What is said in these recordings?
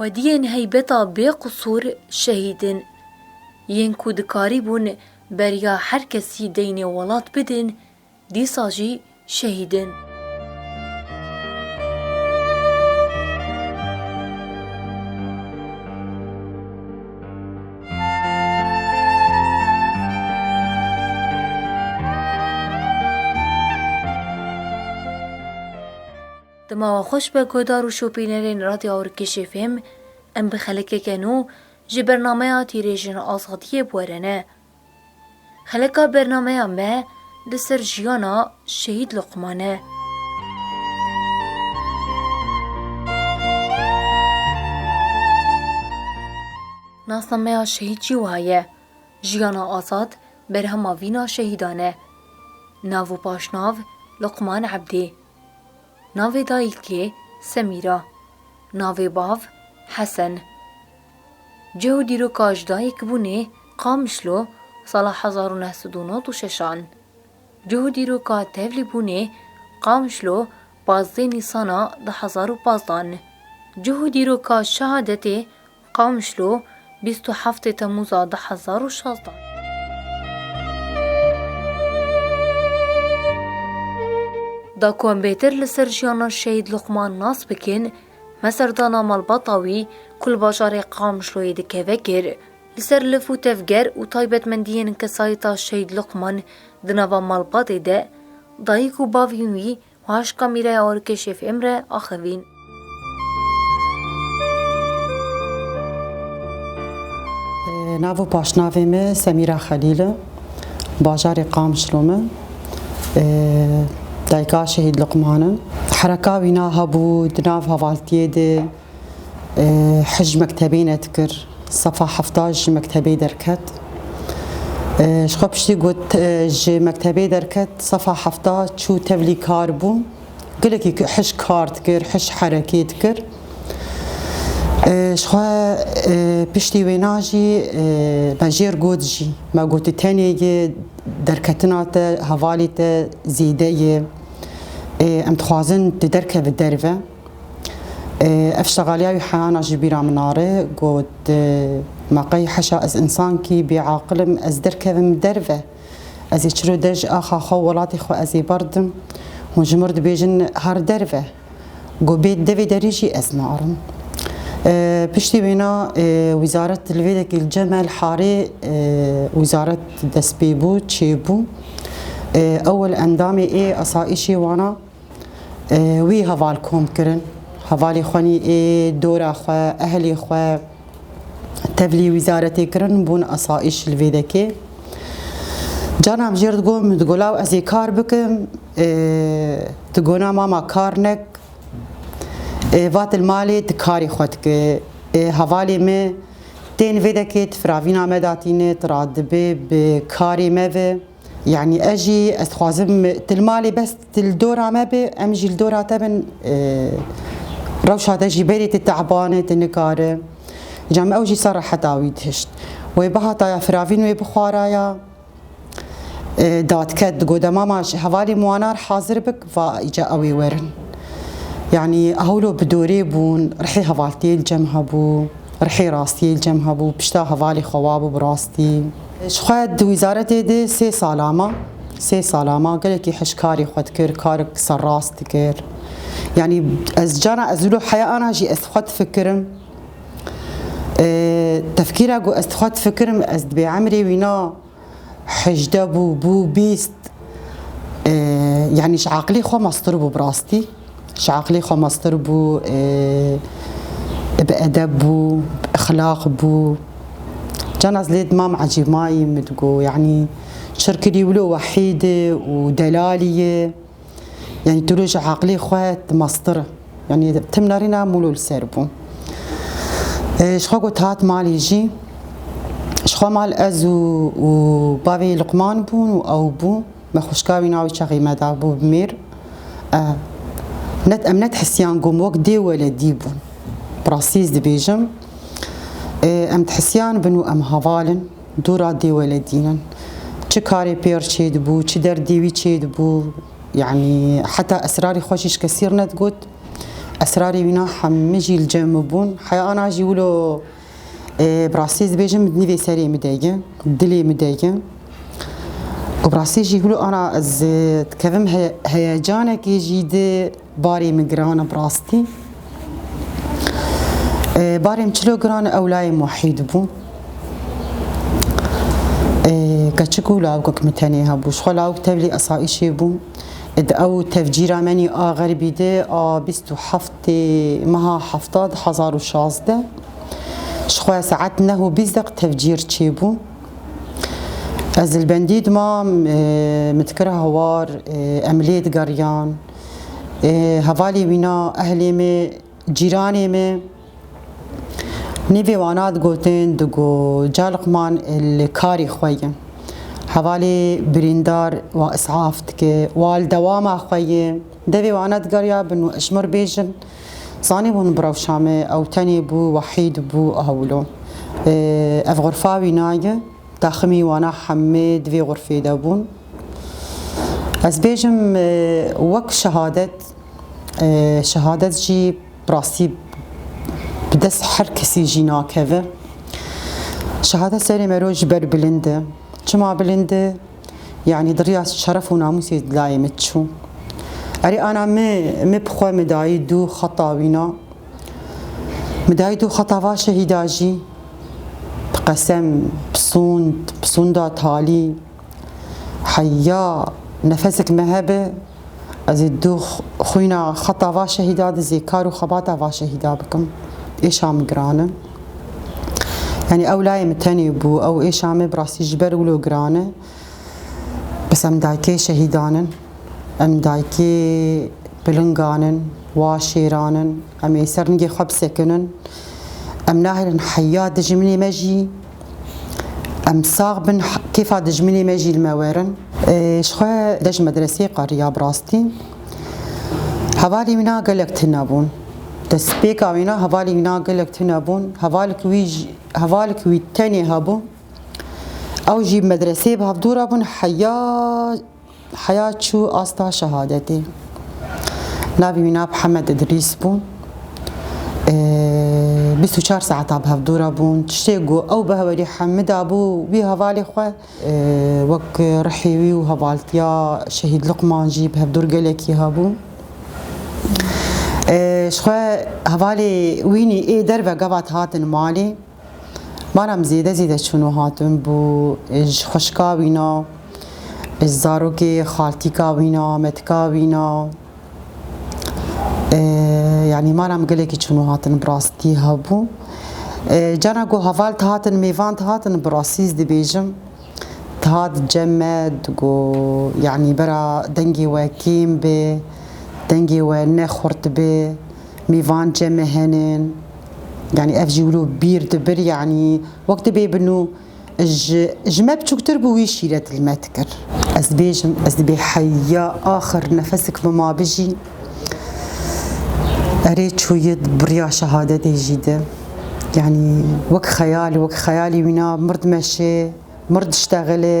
Xwediyên heybeta bêqisûr şehîd in. Yên ku dikarîbûn beriya her kesî deynê welat bidin, Dîsa jî şehîdin. Dema we xweş be guhdar û şopînerên Radyo Awrikişê fêm, em bi xelekeke nû ji bernameya Tîrêjin Azadiyê bi we re ne. Xeleka bernameya me li ser jiyana Şehîd Luqman e. Nasa me ya şehîd jî wiha ye, Jiyana Azad berhema vîna şehîdan e. Nav û paşnav, Luqman Ebdî. Navê dayîkê, Semîra. Navê bav, Hesen. Cih û dîroka ji dayikbûnê, Qamişlo, sala hezar û neh sed û nod û şeş an. Cih û dîroka tevlî bûnê, Qamişlo, pazdeh Nîsana du hezar û pazdeh an. Cih û dîroka şehadetê, Qamişlo, bîst û heftê Temûza du hezar û şazdeh an. Da ku em bêtir li ser jiyana Şehîd Luqman nas bikin, Me serdana malbata wî ku li bajarê Qamşloyê dikeve kir. Li ser lif û tevger û taybetmendiyên kesayeta Şehîd Luqman di nava malbatê de dayik û bavên wî paş kamîraya Orkê Şêf Îmre axivîn. Nav û paşnavê me Semîra Xelîl e. bajarê Qamşlom e. Dayika Şehîd Luqman e. Hereka wî na hebû di nav hevaltiyê de hej mektebê net kir. Sefa hefta ji mektebê derket. Ji xwe piştî got ji mektebê derket sefa hefta çû tevlî kar bû. Gelekî hişk kar dikir, hişk herekê dikir. Jixwe piştî wêna jî me jêr got jî me gotî tenê yê derketina te hevalî te zêde yê. Em dixwazin tu derkevî derve. Ev ştegaliya wî heyana ji bîra min are got me qey heşa ez însankî bêaqilim ez derkevim derve. Ez ê çiro dej axa xwe û welatê xwe ez ê berdim. Hûn ji mir dibêjin her derve. Ku bê devê derî jî ez narim. Piştî wêna wîzaret li vê dekî li Cemel Harê wîzaret destpêbû, çêbû. Ewil endamê ê asayîşê wana. Wî heval kom kirin. Hevalê xwe nî ê dora xwe, ehlê xwe tevlî wîzaretê kirin bûn esayîş li vêdekê. Cana min jêr digot min digot law ez ê kar bikim. Digona mama kar nek. Vat li malê ti karê xwe dike. Hevalê me tên vêdekê ti firavîna me datîne ti radibê bi karê me ve. یعنی ez jî ez dixwazim tu li malê bes tu li dora me bê em jî li dora te bin rewşa te jî berê tu teban e tu nikar e ca min ew jî ser reheta wî dihişt wê bihataya firavîn wê bixwaraya dadket digot de mama ji hevalê muanar hazir bik va îca ew ê werin yanî hewlo bi dorê bûn rihê hevaltiyê li cem hebû rihê rastiyê li cem hebû pişta hevalê xewa bû bi rastî Ji xwe di wîzaretê de sê sala ma. Sê sala ma gelekî hişkarî xwe dikir, karek serrast dikir. Yanî ez cana ez wilo heya ana jî ez xwe difikirim. Tefkîra ku ez xwe difikirim ez di bêemrê wîna hejdeh bû, bû bîst. Yanî ji aqilê xwe mastir bû bi rastî. Ji aqilê xwe meztir bû, bi edeb bû, bi ixlaq bû. Can ez lê dimam ecîb mayî, min digo yanî çirkilî wilo wehîd e û delalî ye. Yanî tu lê ji aqilê xwe tu meztir î. Yanî tim nerîna mûlo li ser bû. Ji xwe got hat malê jî. Ji xwe mal ez û bavê Luqman bûn û ew bû. Me xuşka wî navê çaxê me da bû bi mêr. Net em net hisiyan gom wek dê weledî bûn. Prasîz dibêjim. Em dihisiyan bin û em havalin dûra dê weledînin. Çi karê pêr çê dibû, çi derdê wî çê dibû. Yanî heta esrarê xwe jî ji kesî rnet got. Esrarê wîna hemî jî li cem min bûn. Heya ana jî wilo Bi rastî ez dibêjim nîvê serê min de ye, dilê min de ye. Û bi rastî jî hûlo ana ez dikevim heyecanekê jî di barê min giran e bi rastî. Barê min çilo giran e ewlayê Muhî dibû. Keçik û lawikek min tenê hebû. Ji xwe lawik tevlî esayîşê bû. Di ew tevcîra menî a xerbî de a bîst û heft Tê meha hefta di hezar û şazdeh ji xwe saet neh û bîst deq tevcîr çêbû. Ez li bendî dima min dikira hawar em lê digeriyan. Hevalê wîna ehlê me, cîranê me nêvê wana digotin di ku Caliqman li karê xwe ye. Hevalê birîndar wan isaf dike, wan li dewama xwe ye. Devê wana digeriya bin û ejmir bêjin, zanîbûn bi rewşa me ew tenê bû, wehîd bû, awlo. Ev xurfa wî naye, taximî wana hemê di vê xurfê de bûn. Ez bêjim wek şehadet, şehadet jî bi rastî bi dest her kesî jî nakeve. Şehadet serê me re ji ber bilind e. Çima bilind e? Yanî di rêya şeref û namûsê di layê min çû. Erê ana min min bi xwe min dayî du xeta wîna. Min dayî du xeta va şehîda jî. Bi qesem, bi sûnd, bi sûnda talî. Heya nefesek me hebe Ez ê du xwîna xeta va şehîda dizê kar û xebata va şehîda bikim. Êşa min giran e. Yanî ew layê min tenê bû. Ew êşa me bi rastî ji ber wilo giran e. Bes em dayikê şehîdan in. Em dayikê pilingan in, wa şêran in. Em ê ser ningê xwe bisekinin. Em nahêlin heya dijminê me jî Em sax bin kêfa dijminê me jî li me werin. Ji xwe de ji medreseyê qeriya bi rastî. Hevalê wî na gelek tune bûn. Destpêka wî na hevalê wî na gelek tune bûn. Hevalek wî hevalek wî tenê hebû. Ew jî medreseyê bi hevdû re bûn heya Heya çû asta şehadetê. Navê wî nav Hemed Idrîs bû. Bîst û çar saeta bi hevdû re bûn. Tiştê ku ew bi heverî Hemida bû wî hevalê xwe wek rihê wî û hevaltiya Şehîd Luqman jî bi hevdûr gelekî hebû. Ji xwe hevalê wînî ê derve gavat hatin malê. Baram zêde zêde çûn û hatin bû. Ji xwişka wîna, ji zarokê xaltîka wîna, metika wîna. Yanî maram gelekî çûn û hatin bi rastî hebû. Cana ku heval dihatin mêvan dihatin bi rastî ez dibêjim dihat cem me digo yanî bira dengê we kêm be, dengê we ne xurt be, mêvan cem me hene. Yanî ev jî wilo bîr dibir yanî wek dibê bin û ji ji me biçûktir bû wî şîre dil me dikir. Ez dibêjim ez dibê heya axir nefesik bi ma bijî. Erê çûyid biriya şehadetê jî di. Yanî wek xeyal wek xeyalî wîna mird meşê mird diştexilê.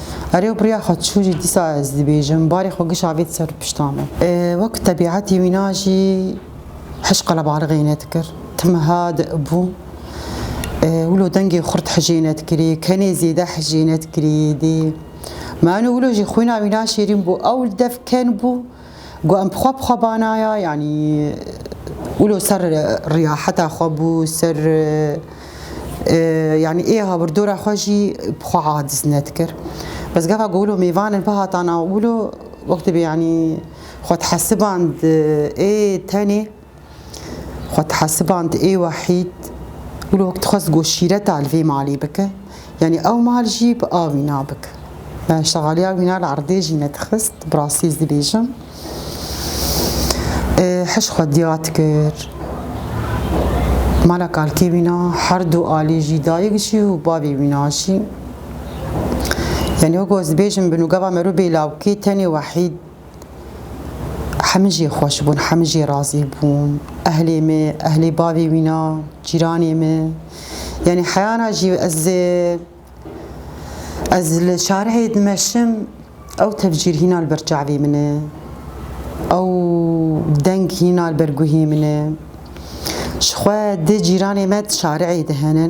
Erê obriya xwe çû jî dîsa ez dibêjim, barê xwe giş avêt ser pişta min. Wek ku tebîetê wîna jî hiş qelebalixê nedikir, tim wiha dibû, wilo dengê xurt hicê nedikirî, kenê zêde hicê nedikirî dê. Ma enû wilo jî xwîna wîna şêrîn bû, ewl dev ken bû. Got em bi xwe bi xwe banaya yanî wilo ser riyaheta xwe bû ser yanî ê habirdora xwe jî bi xwe aciz nedikir. Bes gava ku wilo mêvanin bihata nav wilo wextê bê yanî xwe dihesiband ê tenê Xwe dihesiband ê wahîd û li hok dixwest ku şîreta li vê malê bike, yanî ew mal jî bi a wîna bike. Me şexaliya wîna li erdê jî nedixist, bi rastî ez dibêjim. Hiş xwe diya dikir. Mala kalkê wîna her du alî jî dayik jî û bavê wîna jî. Yanî wek ez dibêjim bi nûgava merû bêlawkê tenê wahîd Hemî jî xweş bûn, hemî jî razî bûn. Ehlê me, ehlê bavê wîna, cîranê me. Yanî heyana jî ez ez li şarihê dimeşim ew tevcîr hîna li ber çavê min e. Ew deng hîna li ber guhê min e. Ji xwe di cîranê me di şarihê de hene.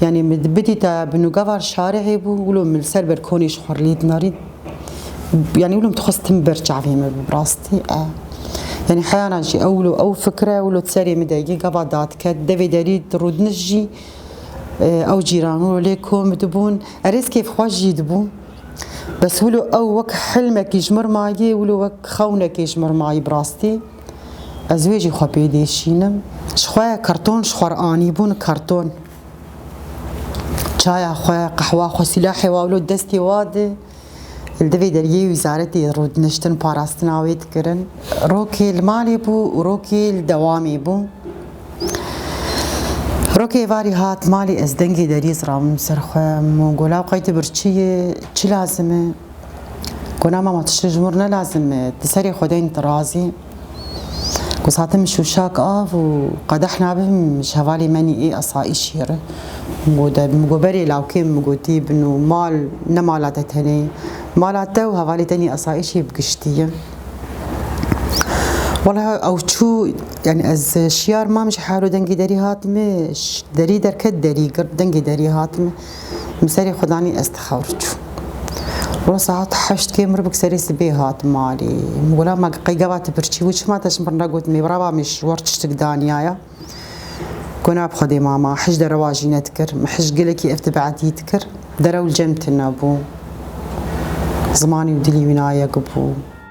Yani mi bidî te binûgevar şarê hêbû wilo min ser ber konê ji xwe lîd narî. Yani wilo min dixwest tim ber çavê min bi rastî e. Yani heyana jî ew wilo ew fikre wilo serê min de yê gava dadket devê derî rûdiniş jî ew cîran wilo lê kom dibûn erêz kêfxweş jî dibû. Bes wilo ew wek hilmekî ji mir mayê wilo wek xewnekê ji mir mayî bi rastî. Ez wê jî xwe pê dêşînim. Ji xwe karton ji xwe re anîbûn karton. Çaya xwe, qehwa xwe, silahê wa wilo destê wa de li divê dergehê wîzaretê de rûdiniştin parastina wê dikirin. Rokê li malê bû û rokê li dewamê bû. Rokê êvarî hat malê ez dengê deriyê ziravim ser xwe. Min got, Lawqay tu birçî yî, çi lazim e? Gona mama tu şû ji mir ne lazim e, di serê xwe de tu razî. Ku sate min şûşak av û qedeh nabim ji hevalê menî ê esayîşî re. Got de min got berê lawkê min gotî bin û mal ne mala te tenê. Mala te û hevalê te nî esayîşî bi giştî ye. Wala ew çû yani ez şiyar mam ji herû dengê derî hatime derî derket derî girt dengê derî hatime. Min serê xwe danî ez tixewr çûm. Wilo saet heşt kêm ribik serê sibê hat malê. Min gola ma qey gava tu birçî wî çima te ji min re got mê birava min ji wir tiştik daniyaya. Got na bi xwe dê mama hij dere wajî nedikir. Min hij gelekî ev tibedî dikir. Derew li cem tune bû. Zimanî û dilî wî nayek bû.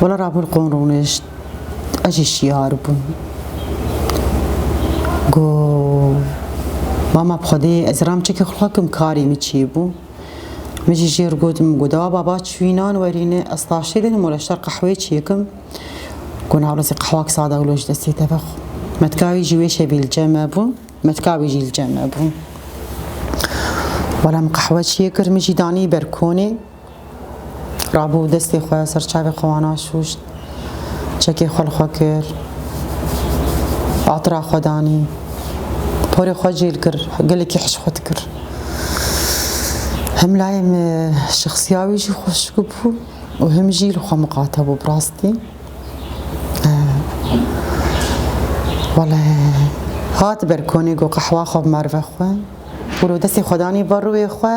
Wala Rabûl qon rûnişt ez jî şiyar bûm. Go mama bi Xwedê ez ram çekî xulakim karê min çî bû. Min jî jêr got min got dawa baba çwînan werîne ez taştê dênim wala ji dar qehweyê çêkim. Go navlesê qehwak sada wilo ji destê te vexwe. Metkavî jî wê şevî li cem me bû, metkavî jî li cem me bû. Wala min qehwe çê kir min jî danî ber konê. Rabû destê xwe ser çavê xwe wan aşûşt, çekê xwe li xwe kir, atira xwe danî, porê xwe cêl kir, gelekî hişk xwe dikir. Him layê me şexsiya wî jî xweşik bû û him jî li xwe miqate bû bi rastî. Wele hat ber konê got qehwa xwe bi merve xwe û li destê xwe danî ber rûyê xwe.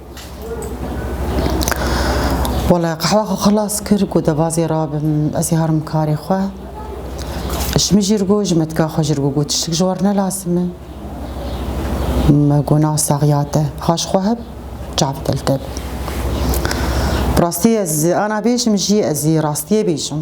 Wala qehwa xwe xilas kir ku debazê rabim ez ê herim karê xwe. Ji min jî ir got ji me tika xwe ji ir got got tiştik ji war nelasime. Me got na saxiya te ha ji xwe heb çav teltel. Bi rastî ez ana bêjim jî ez ê rastiyê bêjim.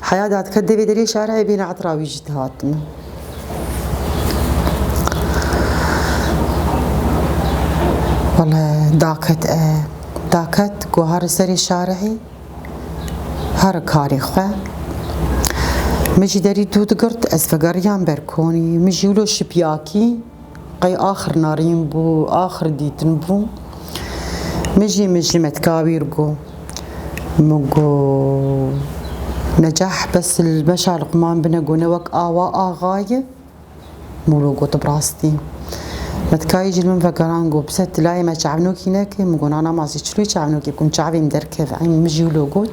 Heya dadkar devê derê şara ye bêne etira wî jî dihatine. Wala daket e daket ku her serê şarehê her karê xwe min jî derî dû digirt ez vegeriyam ber konî min jî wilo şipiyakî Qey axir narîn bû, axir dîtin bû. Mijî mijî me tika wî ir got. Min got, Necah bes li meşa Luqman bine got ne wek awa axa ye. Min wilo got, tu bi rastî. Me tika yê jî li min vegerand got, Bise tu layê me çavnokî nekî? Min got, Na na masî çilû çavnokî bikim çavên derkeve. Eynî min jî wilo got.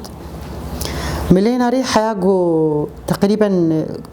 Milê narî heya got teqrîben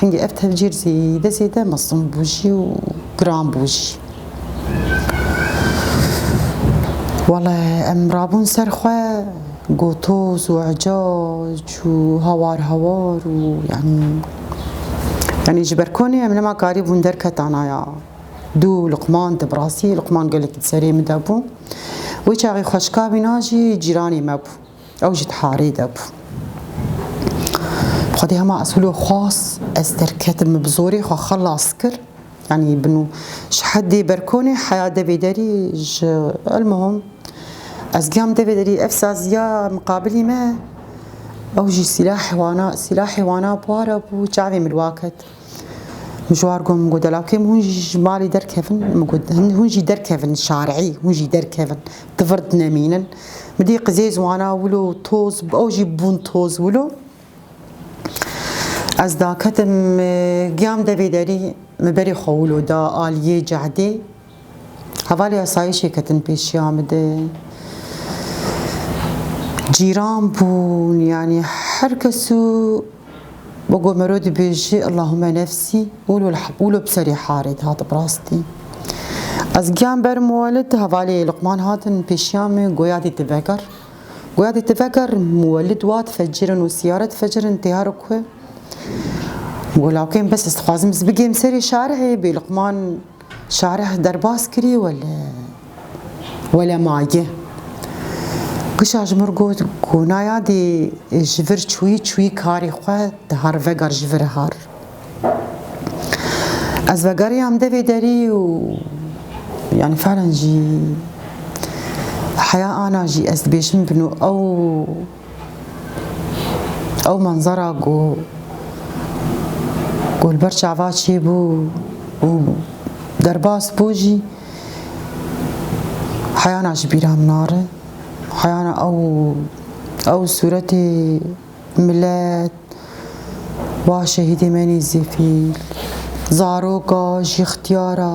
Hingî ev tevcîr zêde zêde mezin bû jî û giran bû jî. Wele em rabûn ser xwe gotoz û ecac û hawar hawar û yanî yanî ji ber konê em nema karî bûn derketa naya dû luqman di birastî luqman gelekî di serê min de bû. Wê çaxê xweşika vîna jî cîranê me bû. Ew jî di harê de bû. Xwedê hema ez hûlo xwast, ez derketim, min bi zorê xwe xelas kir. Yani bin û ji heddê berkonê heya devê derî ji elmuhim ez giyam devê derî ev saziya miqabilî me ew jî sîlahê wana sîlahê wana para bû çavê min waket. Min ji war got, min got delakê min hûn jî ji malê derkevin, min got hûn jî derkevin şarî, hûn jî derkevin di vir dinemînin. Min dît qizê ziwana wilo û toz, ew jî bûn toz wilo. Ez daketim, giyam devê derî, min berê xwe wilo da aliyê cehdê, Hevalê asayîşê ketin pêşiya min de. Cîran bûn yanî her kes û bi ku miro dibêjî Illahume nefsî û li bi serê harê dihat bi rastî. Ez giyan ber muwelid hevalê Luqman hatin pêşiya min goya dîti veger. Goya dîti veger muwelid wat fecirin û siyaret fecirin tê herik xwe. Got lawkên bes ez dixwazim ez bigêm serê şarihê bê Luqman Şareh derbas kirî wele wele maye. Kişa ji mir got ku naya dê ji vir çûyî çûyî karê xwe dihar vegar ji vir har. Ez vegariyam devê derî û yani fehlen jî heya ana jî ez dibêjim bin û ew Ew manzara ku ku li ber çava çêbû û derbas bû jî heyana ji bîra min nare. Heyana ew ew sûretê milet wa şehîdê me Nêzîfî, zaroka jî xtiyara.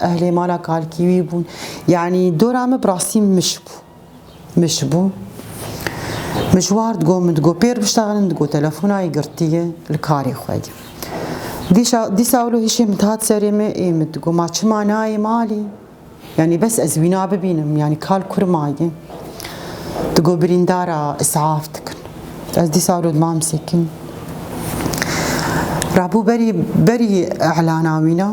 Ehlê mala kalkî wî bûn. Yanî dora min bi rastî mij bû. Mij bû. Mijwar digot min digot pêr biştaxin digot telefona yê girtiye li karê xwe ye. Dîşa dîsa wilo hişê min dihat serê me ê min digot ma çima nayê malê? Yanî bes ez wî nabibînim yanî kal kur ma ye. Digot birîndara isaf dikin. Ez dîsa wilo di mam sekin. Rabû berî berî elana wîna.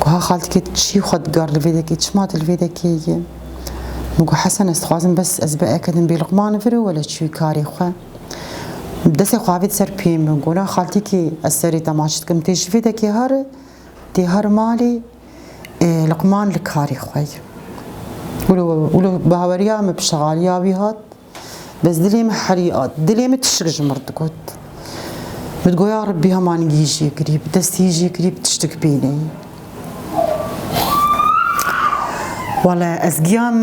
Guha xaltikê tu çî xwe digar li vê dekê, çima tu li vê dekê yî? Min got Hesen ez dixwazim bes ez biekedim bê Luqman vir û wele çûyî karê xwe. Destê xwe avêt ser piyê min got la xaltikê ez serê te maç dikim tê ji vê dekê hari tê hari malê Luqman li karê xwe yî. Wilo wilo bi haweriya min bi şexaliya wî hat. Bez dilê min herî at. Dilê min tiştik ji min digot. Min digot ya Rebbî hemanî hîjê kirî, bi destê hîjê kirî bi tiştik bîneyî. Wala ez giyam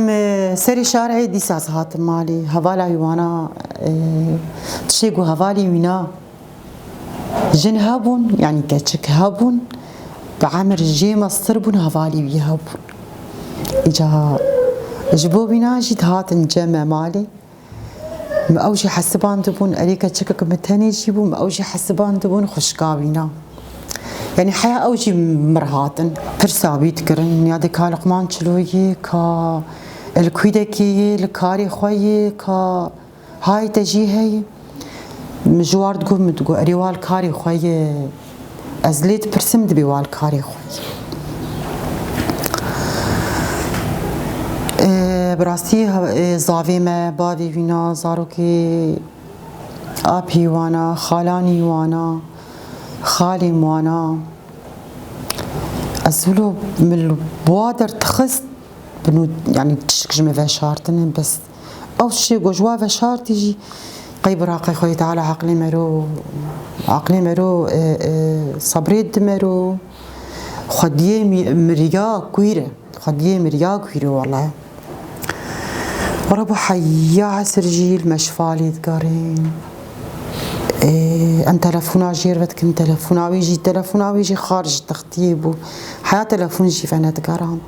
serê şarê dîsa ez hatim malê. Hevala wî wana tişê ku hevalê wî na. Jin hebûn yanî keçik hebûn bi emir jê meztir bûn hevalî wî hebûn. Îca ji bo wîna jî dihatin cem me malê. Me ew jî hesibandibûn erê keçikek min tenê jî bû me ew jî hesibandibûn xwişka wîna. Yanî heya ew jî mir hatin. Pirsa wî dikirin ya dê ka li qman çilo yê ka li kûdekê yê li karê xwe yê ka Hay te jî heye? Min ji ward got min digot erê wal karê xwe ye. Ez lê dipirsim dibê wal karê xwe ye. Bi rastî zavê me, bavê wîna, zarokê apê wana, xalanî wana, xalên wana. Ez wilo min li wa der dixist bin û yanî tişik ji min veşartine bes. Ew tiştê ku ji we ve şart e jî qey bi raqê Xwedî Teala eqlê me ro eqlê me ro sebrê dide me ro Xwediyê miriya kûîr e Xwediyê miriya kûîr e wele were bo heya hesir jî li me şifa lê digerên em telefona jêr ve dikin telefona wê jî telefona wê jî xarij textiyê bû heya telefon jî ve nedigerand.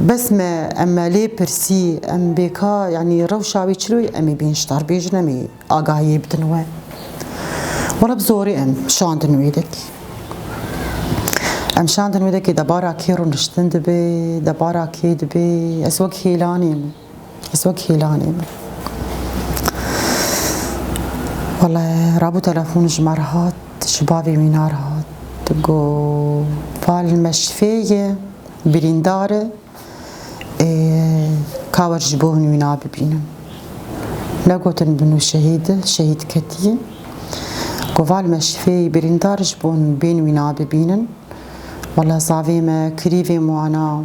Bes me em me lê pirsî em bêka yanî rewşa wî çi wî emê bênçdar bêjin emê agahiyê bidin we. Wala bi zorê em şandin wê dek. Em şandin wê dekê debara kê rûniştin dibê, debara kê dibê ez wek hêlanê min. Ez wek hêlanê me. Wala rabû telefon ji me re hat, ji bavê mînar hat. Got Fal me şifê ye, birîndar e. Ê ka wer ji bo min wî nabibînim. Negotin binû şehîd e, şehîd ketiye. Got Fal me şifê ye, birîndar e ji bo min bên wî nabibînin. Wala zavê me kirî vê wana.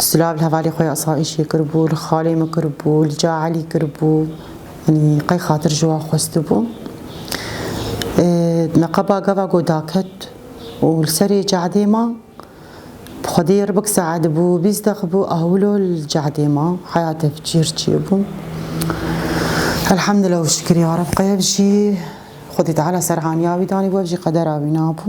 Silav li hevalê xwe ya asayîşê kiribû, li xalê min kiribû, li ca Elî kiribû. Yanî qey xatir ji wan xwestibû. Me qeba gava ku daket û li serê cadê ma. Bi xwedî ribik saet bû bîst deq bû ahwilo li cadê ma. Heya te bi cîr çê bû. Elhamdullah û şikir ya Reb qey ev jî Xwedî Teala serhaniya wî danî bû ev jî qedera wî nabû.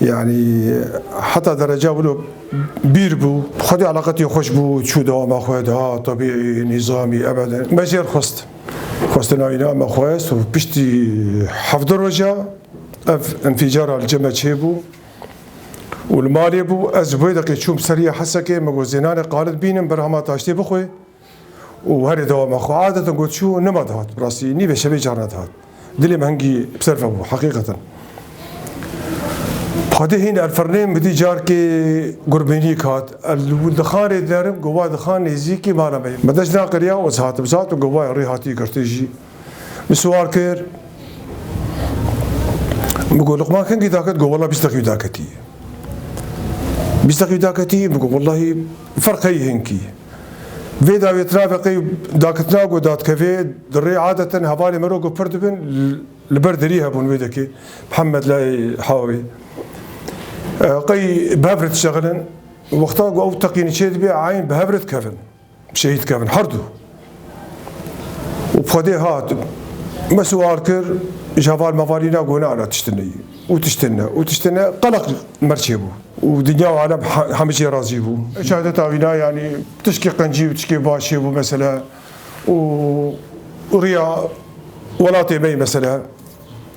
Yani heta derece wilo bîr bû. Xwedî alaqetî xweş bû, çû dewama xwe da, tebîî, nîzamî, ebede. Me jêr xwest. Xwestina înan me xwest û piştî hevdu roja ev înfîcara li cem me çêbû û li malê bû. Ez ji bo yê deqê çûm serî Hesekê, me got zênanê qalit bînim, berhama taştê bixwe. û herî dewama xwe adetin got çû nima dihat. Bi rastî nîvê şevê carna dihat. Dilê min hingî bi ser ve bû heqîqetan. Padê hîn erfirnê min dî carkê gurbînîk hat. Dixanê derim gova dixan nêzîkî mala me. Min deş naqiriya û ez hatim zat û govaya rê hatî girtin jî min siwar kir. Min got luqman hingî daket got wela bîst deqî daketî. Bîst deqî daketî min got welahî ferq heye hingî. Vê dawiyê tira veqê dakitina ku dadkevê di rê adeten hevalên me re ku pir dibin li ber derî hebûn wê dekê Mihemed Layê Hawê qey bi hev re dişexilin û wexta ku ew teqînî çêdibê eyn bi hev re dikevin şehîd dikevin herdu. û Xwedê hat me siwar kir ji heval mevalî na got na na tiştî ne ye û tiştî ne û tiştî ne qeleq merçê bû û dinya û alem hemî çê razî bû. Şehadeta wî na yanî tişkê qencî û tişkê başê bû mesele û rêya welatê me yê mesele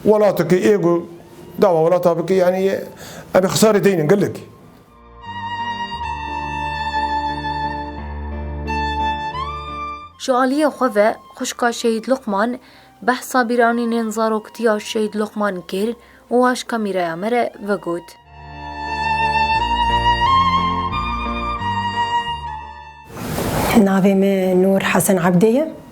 welatekê ê ku dava welata bike yanî em ê xesarê deynin gelek. Ji aliyê xwe ve xwişka Şehîd Luqman behsa bîranînên zaroktiya Şehîd Luqman kir û aş kamîreya me re vegot. Navê me Nûr Hesen Ebdê ye.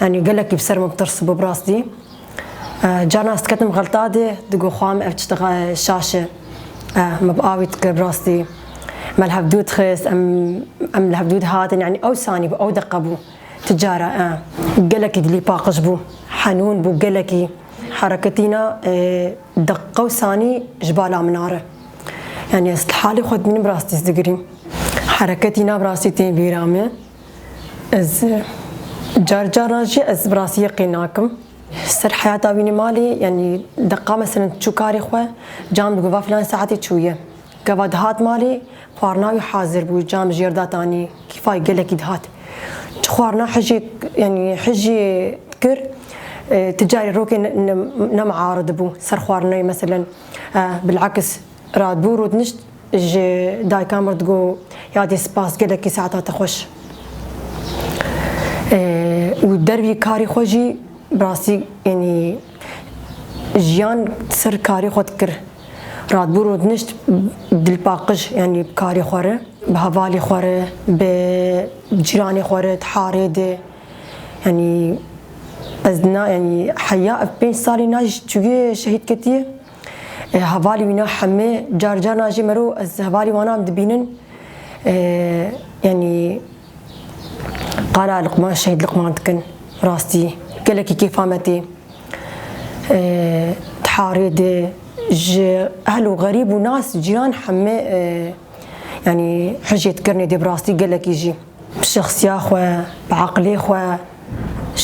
Yanî gelekî bi ser min tirs bû bi rastî. Caran ez diketim xelta dê, digo xwe em ev çi dixe şaş e. Me bi awî dikir bi rastî. Me li hev dû dixist, em em li hev dû dihatin. Yanî ew sanî bû, ew deqe bû. Ti cara e. Gelekî dilî paqij bû. Henûn bû gelekî. Hereketîna deqe û sanî ji bala min a re. Yanî ez li halê xwe dimînim bi rastî ez digirîm. Hereketîna bi rastî tên bîra min. Ez car caran jî ez bi rastiyê qî nakim. Ser heyata wî nîmalî yanî deqa meselin çû karê xwe, cam digo va filan saetê çûye. Gava dihat malê, xwarina wî hazir bû, cam ji yer datanî, kîfayê gelekî dihat. Çi xwarina hijê yanî hijê dikir, ti carî rokê nemiaridibû ser xwarinayê meselin. Bilekis radbû rûdinişt. Ji dayika mir digo yadê spas gelekî saeta te xweş. Û dervî karî xwe jî bi rastî yanî jiyan ser karî xwe dikir. Radbû rûdinişt bi dilpaqij yanî bi karî xwe re, bi hevalî xwe re, bi cîranê xwe re di harê de. Yanî ez na yanî heya ev pênc salî na ji çûyê şehîd ketiye. Hevalî wî na hemê car car na jî mero ez hevalî wanan dibînin yanî qala Luqman Şehîd Luqman dikin rastî gelekî kêfa me tê tiharê de ji ehl û xerîb û nas cîran hemê yanî hijêt kirnê dê bi rastî gelekî jî bi şexsiya xwe bi eqlê xwe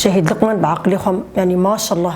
Şehîd Luqman bi eqlê xwe yanî maşallah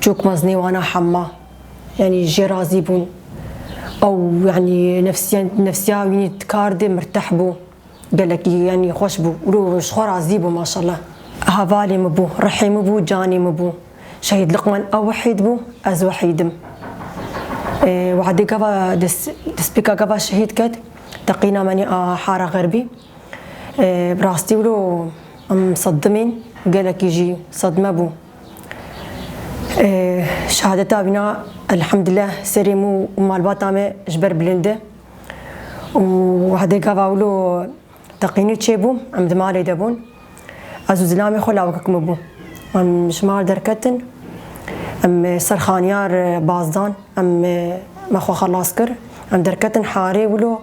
Çok meznê wana hemma yanî jê razî bûn. Ew yanî nefsiyen nefsiya wî dikardê mirteh bû. Gelekî yanî xweş bû. Wilo ji xwe razî bû maşallah. Hevalê min bû, rihê min bû, canê min bû. Şehîd Liqman ew wehîd bû, ez wehîd im. Wehdê gava dest destpêka gava şehîd ket teqîna menî a Hara Xerbî. Bi rastî wilo em sedimên gelekî jî sedme bû. Şehadeta vîna elhamdullah serê mû û malbata me ji ber bilindi û hedê gava wilo teqînî çêbû em di malê de bûn. Ez û zilamê xwe lawikek min bû. Em ji mal derketin em ser xaniyar baz dan em me xwe xelas kir. Em derketin harê wilo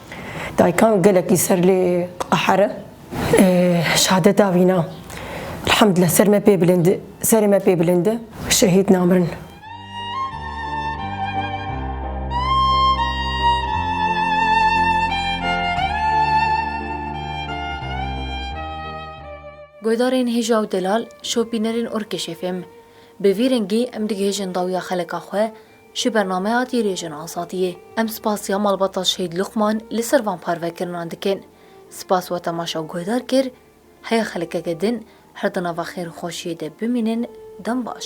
Daykan gelekî ser lê qehre. Şade da vîna. Elhamdulillah ser me pê bilind e. Serê me pê bilind e. Şehîd namirin. Guhdarên hêja û delal, şopînerên Orkêşê fêm. Bi vî rengî em digihêjin dawiya xeleka xwe, Ji bernameya Dirêjên Azadiyê em spasiya malbata Şehîd Luqman li ser van parvekirinan dikin. Spas we temaşa guhdar kir, heye xelkeke din her di nava xêr û xweşiyê de bimînin dem baş.